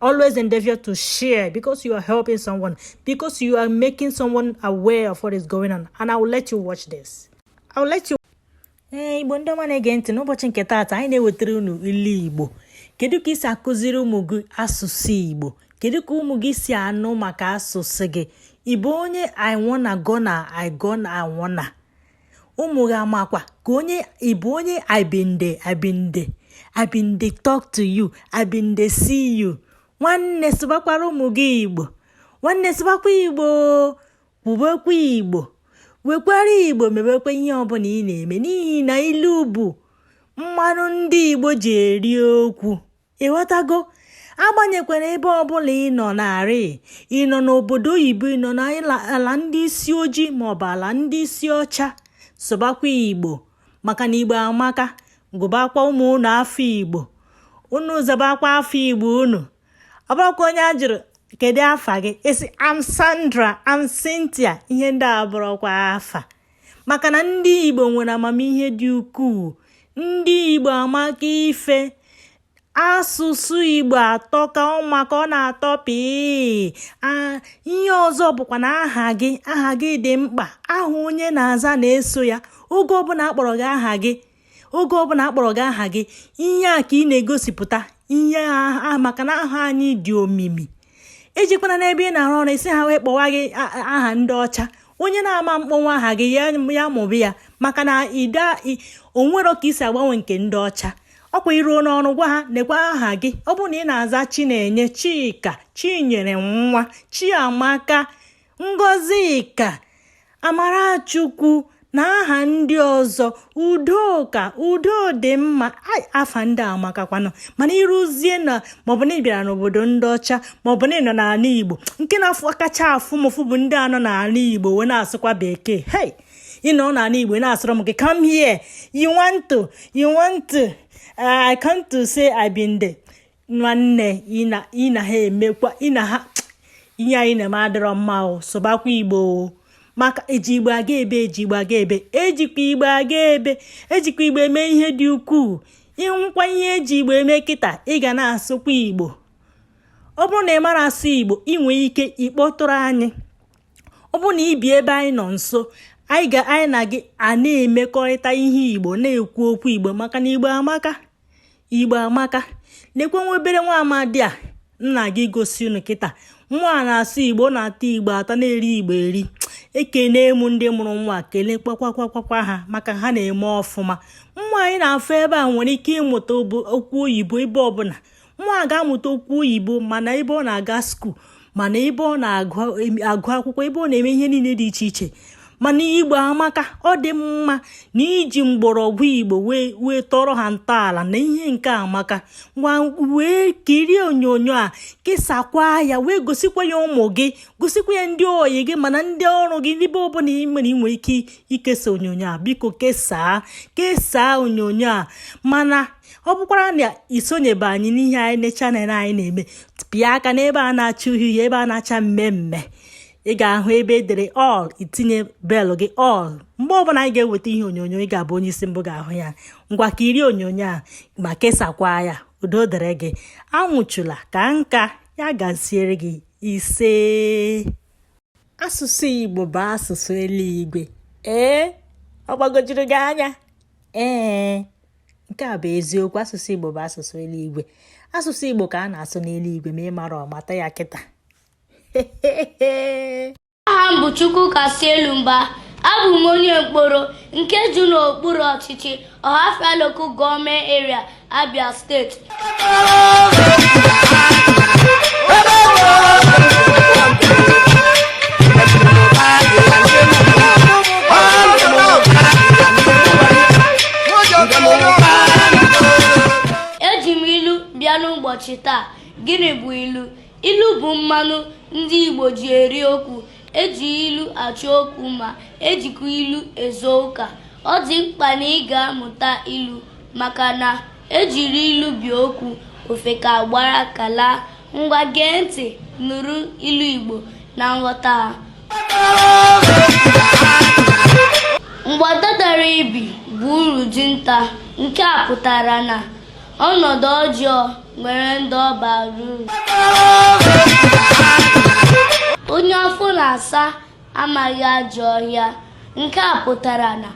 always endeavor to share because you are helping someone, because you are making someone aware of what is going on. And I will let you watch this. I will let you. ee igbo ndị ọma na-ege ntị n'ụbọchị nke taata anyị na-ewetara unu ilu igbo kedu ka i si akụziri ụmụ gị asụsụ igbo kedu ka ụmụ gị si anụ maka asụsụ gị ị bụ onye I wanna gonna I gonna I wanna ụmụ gị amakwa ka onye ị bụ onye I been dey I been dey I been dey talk to you I been dey see you nwanne sụbakwara ụmụ gị igbo nwanne sụbakwa igbo kwubekwa igbo wekwara igbo mebekwa ihe ọbụla ị na-eme n'ihi na ilu bụ mmanụ ndị igbo ji eri okwu ị ghọtago agbanyekwarọ ebe ọbụla ị nọ narị ị nọ n'obodo oyibo ị nọ n'ala ndị isi ojii maọbụ ala ndị isi ọcha sụbakwa igbo maka na igbo amaka gụbakwa ụmụ unu afa igbo unu zabakwa afa igbo unu ọ bụrọkwa onye a jụrụ kedu afa gị ị sị I'm sandra I'm cynthia ihe ndị a abụrọkwa afa maka na ndị Igbo nwere amamihe dị ukwuu ndị Igbo amaka ife asụsụ Igbo atọka ọ maka ọ na-atọ pịị ihe ọzọ bụkwa na aha gị aha gị dị mkpa aha onye na-aza na-eso ya oge ọbụla a kpọrọ gị aha gị oge ọbụla a kpọrọ gị aha gị ihe a ka ị na-egosipụta ihe a maka na aha anyị dị omimi ejikwana n'ebe ị na-arụ ọrụ ị sị ha wee kpọwa gị aha ndị ọcha onye na-ama akpọnwu aha gị ya mụba ya maka na ide o nwerọ ka i si agbanwe nke ndị ọcha ọ kwa i ruo n'ọrụ gwa ha nekwa aha gị ọ bụrụ na ị na-aza chinenye chika chinyere nwa chiamaka Ngozika, Amarachukwu na aha ndị ọzọ udoka udodịmma afa ndị a amakakwanụ mana i ruzie na maọbụ na ị bịara n'obodo ndị ọcha maọbụ na ị nọ n'ala igbo nke na-afụ kacha afụ m ụfụ bụ ndị a nọ n'ala igbo wee na-asụkwa bekee hei ị nọ n'ala igbo na-asụrụ m gị come here you want to you want to uh, I come to say I been there nwanne ị na ha emekwa ị na ha ihe anyị na-eme adịrọ mma o sụbakwa igbo maka e ji igbo aga ebe e ji igbo aga ebe e jikwa igbo aga ebe e jikwa igbo eme ihe dị ukwuu ị hụkwa ihe e ji igbo eme kịta ị ga na-asụkwa igbo ọ bụrụ na ị mara asụ igbo ị nwee ike ịkpọtụrụ anyị ọ bụrụ na i bi ebe anyị nọ nso anyị ga anyị na gị a na-emekọrịta ihe igbo na-ekwu okwu igbo maka na igbo amaka igbo amaka lekwa nwa obere nwa amadị a m na-aga egosi unu kịta nwa a na-asụ igbo na-ata igbo ata na-eri igbo eri ekene m ndị mụrụ nwa kelee kwakwakwa ha maka ha na-eme ọfụma nwa anyị na-afụ ebe a nwere ike ịmụta okwu oyibo ebe ọbụla nwa ga-amụta okwu oyibo ma n'ebe ọ na-aga skuul ma n'ebe ọ na-agụ akwụkwọ ebe ọ na-eme ihe niile dị iche iche mana igbo amaka ọ dị mma na iji mgbọrọgwụ igbo wee tọrọ ha ntọala na ihe nke a amaka ngwa wee kirie onyonyo a kesakwa ya wee gosikwa ya ụmụ gị gosikwa ya ndị oyi gị mana ndị ọrụ gị n'ebe ọbụla ị nwere inwe ike ikesa onyonyo a biko kesaa kesaa onyonyo a mana ọ bụkwara na isonyebe anyị n'ihe anyị na channel anyị na-eme pịa aka n'ebe a na-acha uhie uhie ebe a na-acha mmee mmee ị ga-ahụ ebe e dere all itinye bell gị all mgbe ọbụla anyị ga-eweta ihe onyonyo ị ga-abụ onye isi mbụ ga-ahụ ya ngwa kirie onyonyo a ma kesakwa ya udo dịrị gị anwụchula kaa nka ya gaziere gị ise asụsụ igbo bụ asụsụ eluigwe ee ọ gbagojuru gị anya ee nke a bụ eziokwu asụsụ Igbo bụ asụsụ eluigwe asụsụ Igbo ka a na-asụ n'eluigwe ma ị marọ mata ya kịta aha m bụ Chukwukasị Elumba abụ m onye Nkporo nke dị n'okpuru ọchịchị Ọhafia Local Government Area Abia steeti ụbọchị taa gịnị bụ ilu ilu bụ mmanụ ndị Igbo ji eri okwu eji ilu achọ okwu mma ejikwa ilu ezo ụka ọ dị mkpa na ị ga-amụta ilu maka na E jiri ilu bie okwu ofeke agbara aka laa. Ngwa gee ntị nụrụ ilu Igbo na nghọta ha. Mgbada dara ibi bụ uru dinta. Nke a pụtara na ọnọdụ ọjọọ nwere ndị ọ bara uru. Onye afọ na-asa amaghị ajọ ọhịa nke a pụtara na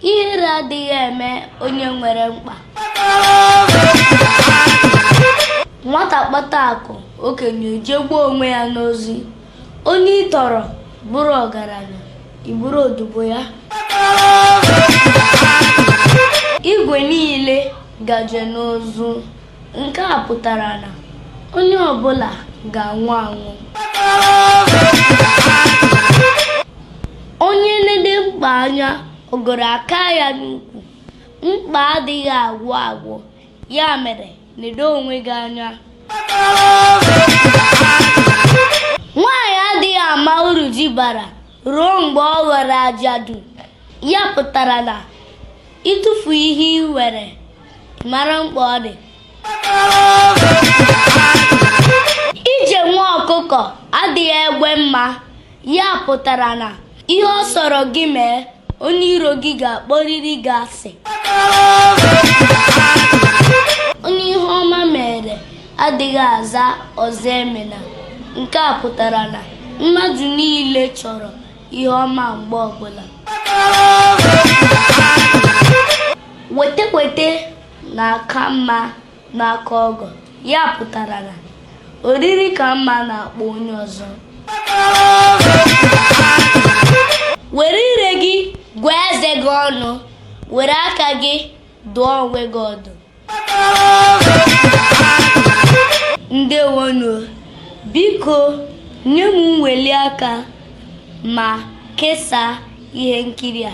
ihere adịghị eme onye nwere mkpa nwata kpata akụ okenye ejegbuo onwe ya n'ozi onye ị tọrọ bụrụ ọgaranya ị bụrụ odibo ya igwe niile gaje n'ụzụ nke a pụtara na onye ọbụla ga-anwụ anwụ onye nede mkpa anya ogoro aka ya n'ukwu mkpa adịghị agwụ agwụ ya mere nedo onwe gị anya nwaanyị adịghị ama uru di bara ruo mgbe ọ ghọrọ ajadu Ya pụtara na ịtụfu ihe i nwere mara mkpa ọ dị. Ije nwa ọkụkọ adịghị egbe mma. Ya pụtara na ihe ọ sọrọ gị mee, onye iro gị ga-akpọrịrị gị asị. Onye ihe ọma mere adịghị aza ọzọ emena. Nke a pụtara na mmadụ niile chọrọ ihe ọma mgbe ọbụla weta weta na-aka mma n'aka ọgọ ya pụtara na oriri ka mma n'akpa onye ọzọ were ire gị gụọ eze gị ọnụ were aka gị dụọ onwe gị ọdụ ndewonụ biko nye m mweli aka ma kesaa ihe nkiri a